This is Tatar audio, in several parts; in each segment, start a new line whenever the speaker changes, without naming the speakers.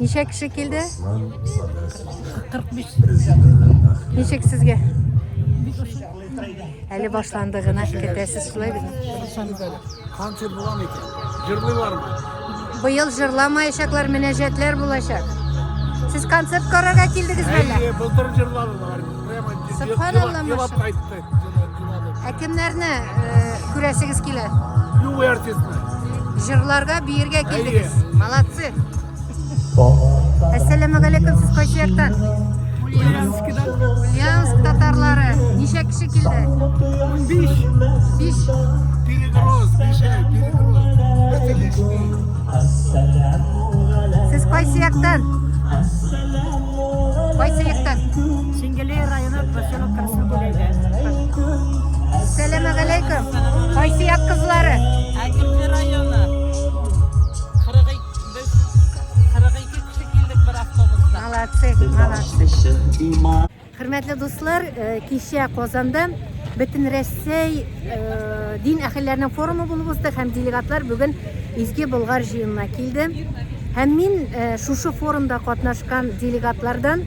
Ничә
кеше килде? 45.
Ничек
сезгә? Әле башланды гына китәсез шулай бит.
Концерт булам икән. Җырлыйлармы? Быел
җырламаячаклар, мөнәҗәтләр булачак. Сез концерт карарга килдегез бәлә? Әйе, былтыр җырладылар.
Прямо Субханалла,
елап кайтты.
Ә
кемнәрне э, күрәсегез килә? Любой
артистны. Җырларга,
биергә килдегез. Молодцы. Әссәламу алейкум, сез кайсы яктан? Ульяновскидан. Ульяновск татарлары. Ничә кеше килде? 15. 5. Перегруз,
бишәй,
перегруз.
Это лишний.
Сез кайсы яктан? Кайсы яктан? Шенгелей
районы
Сәләмә галәйкүм. Кайсы як кызлары? Әкилде районы.
42 кеше килдек бер автобуста. Молодцы,
молодцы. Хөрмәтле дуслар, э, кичә Казанда бөтен Рәсәй э, дин әхелләренең форумы булып узды һәм делегатлар бүген Изге Болгар җыенына килде. Һәм мин э, шушы форумда катнашкан делегатлардан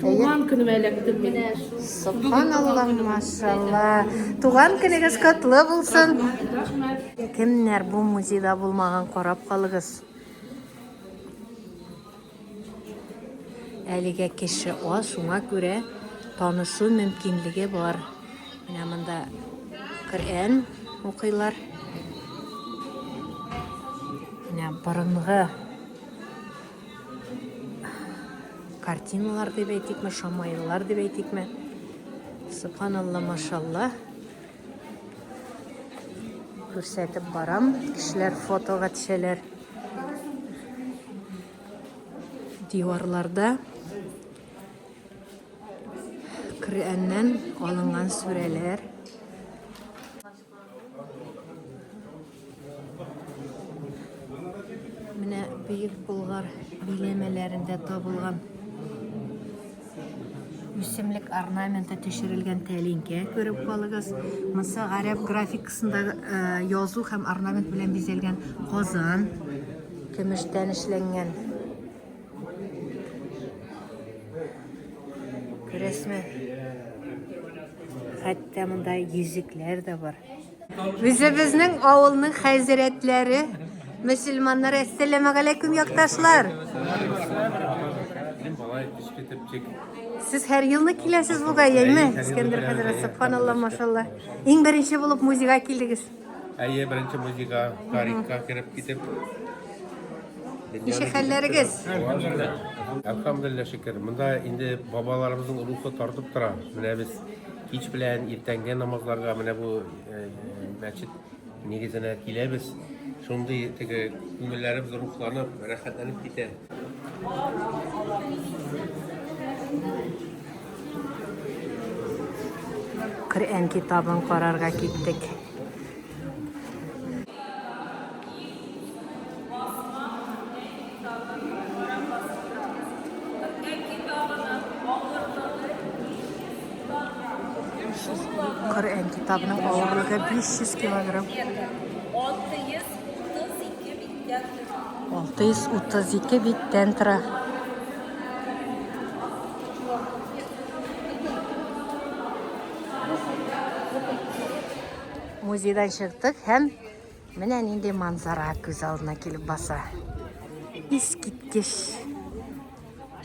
Туган көнемә эләктем мин. Субханалла,
машалла. Туган көнегез котлы булсын. Кемнәр бу музейда булмаган, карап калыгыз. Әлегә кеше аз, шуңа күрә танышу мөмкинлеге бар. Менә монда Коръән укыйлар. Менә борынгы картиналар дип әйтикме шамаиллар дип әйтикме субханалла машалла күрсәтеп барам кешеләр фотога төшәләр диварларда Коръәннән алынган сүрәләр Менә бөек Болгар биләмәләрендә табылган үсемлек орнаменты төшерелгән тәлинкә күреп калыгыз. Монсы гарәп графикасында э, язу һәм орнамент белән бизәлгән казан, көмештән эшләнгән Күрәсме? Хәтта монда йөзекләр дә бар. Үзебезнең авылның хәзрәтләре, мөселманнар, әссәламу алейкум, якташлар. Сез һәр елны киләсез бугай, әйме? Искәндәр хәзрәт, субханалла, машалла. Иң беренче булып музейга килдегез. Әйе, беренче
музейга тарихка кереп китеп. Ничек
хәлләрегез?
Әлхәмдулилла шөкер. Монда инде бабаларыбызның рухы тартып тора. Менә без кич белән иртәнге намазларга менә бу э, мәчет нигезенә киләбез. Шундый теге күңелләребез рухланып, рәхәтләнеп китә.
Коръән китабын карарга киттек. Коръән китабының авырлыгы 500 килограмм. 632 биттән тора. Музейдан чыктык һәм менә нинди манзара күз алдына килеп баса. Искиткеч.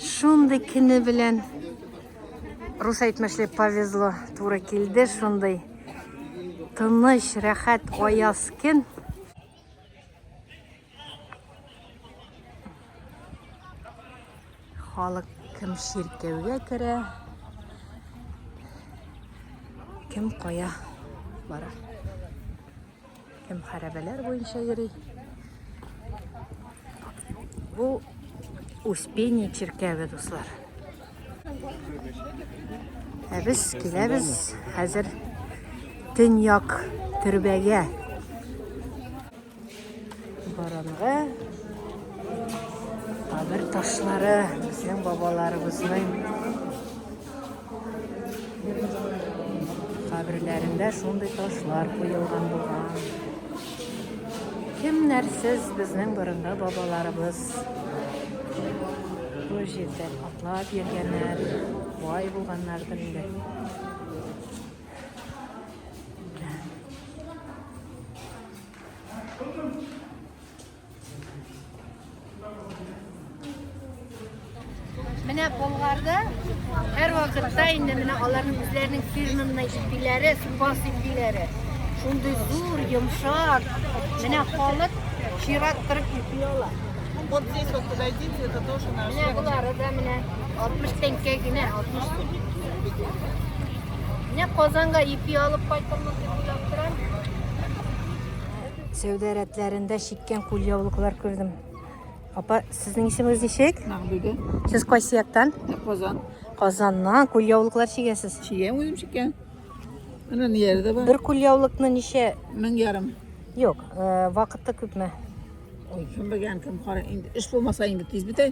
Шундый кине белән рус әйтмешли повезло туры килде шундый тыныч, рәхәт, аяз көн. Халык кем чиркәүгә керә, кем кая бара. Кем хәрәбәләр буенча йөри. Бу Успение чиркәве, дуслар. Ә без киләбез хәзер төньяк төрбәгә. Борынгы кабер ташлары безнең бабаларыбызның каберләрендә шундый ташлар куелган булган. Кемнәрсез безнең борынгы бабаларыбыз бу җирдә атлап йөргәннәр, бай булганнардыр инде. Менә Болгарда һәр вакытта инде менә аларның үзләренең фирмамына ипиләре, супас ипиләре. Шундый зур, йомшак. Менә халык чират кырып ипи ала. Вот здесь вот
подойдите, это тоже наш. Менә булары да
менә 60 тәңкә генә, 60 тәңкә. Менә Казанга ипи алып кайтылмас дип уйлап торам. Сәүдә рәтләрендә чиккән кулъяулыклар күрдем. Апа, сезнең исемегез ничек? Мәгъбүдә. Сез
кайсы яктан?
Казан.
Казаннан
кулъяулыклар чигәсез. Чигәм үзем чиккән.
Менә ниләре дә бар. Бер кулъяулыкны ничә?
Мең ярым.
Юк, э,
вакытта күпме? Ой, кем
белгән, кем кара. Инде эш булмаса инде тиз бетә.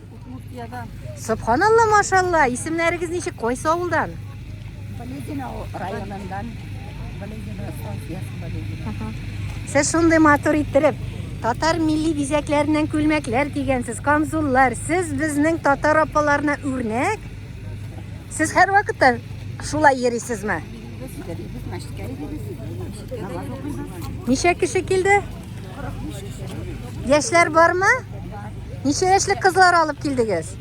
Удмуртиядән. Субханалла, машалла. Исемнәрегез ничек? Кайсы авылдан? Балегина
районыннан. Балегина София Балегина. Сез
шундый матур иттереп татар милли бизәкләреннән күлмәкләр кигәнсез, камзуллар. Сез безнең татар апаларына үрнәк. Сез һәрвакытта шулай йөрисезме? Ничә кеше килде? Яшьләр бармы? Ничә яшьлек кызлар алып килдегез?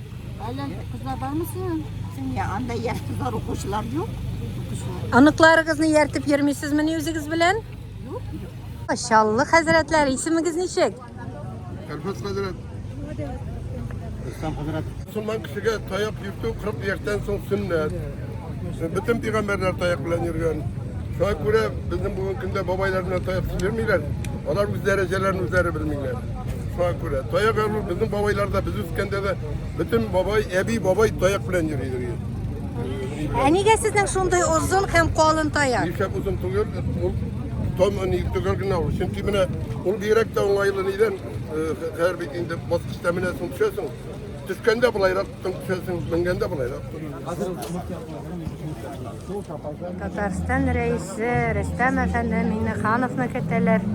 Әллә
кызлар бармы синең? Сиңә анда яшь кызлар укучылар юк. Аныкларыгызны
яртып йөрмисезмени үзегез белән?
Чаллы
хәзрәтләр, исемегез ничек? Кәрфәт хәзрәт. Рөстәм
хәзрәт. Мусулман кешегә таяк йөртү 40 яшьтән соң сөннәт. Бөтен пигамбәрләр таяк белән йөргән. Шуңа күрә безнең бүгенге көндә бабайлар белән таяк йөрмиләр. Алар үз дәрәҗәләрен үзләре белмиләр. Шуңа күрә таяк алу безнең бабайларда без үскәндә дә бөтен бабай, әби, бабай таяк белән йөри иде. Ә
нигә сезнең шундый озын һәм калын таяк? Нишләп озын түгел? Ул
Томы ник төгәл генә ул. Чөнки менә ул бигрәк тә уңайлы нидән, хәзер бит инде баскычта менә соң төшәсең. Төшкәндә былайрак төшәсең, менгәндә былайрак.
Татарстан рәисе Рөстәм әфәнде Миннехановны көтәләр.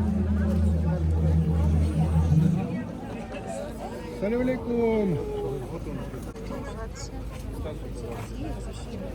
Салам алейкум.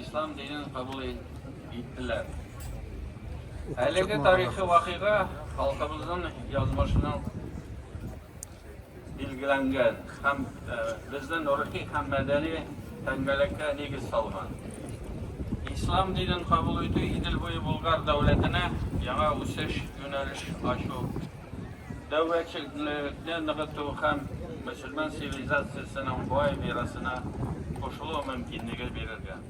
Ислам динен кабул иттеләр. Әлеге тарихи вакыйга халкыбызның язмышының билгеләнгән һәм э, безнең рухи һәм мәдәни тәңгәлеккә нигез салган. Ислам динен кабул итү Идел буе Болгар дәүләтенә яңа үсеш юнәлеш ачу Дәүләтчелекне ныгыту һәм мөселман цивилизациясенең бай мирасына кушылу мөмкинлеге бирергә.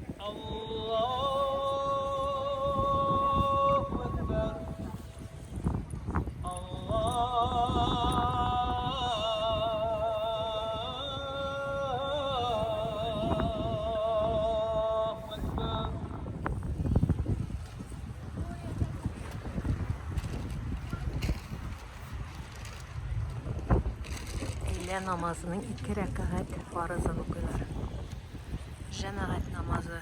Өйлә намазының ике рәкәгать фарызын укыйлар. Җәмәгать намазы.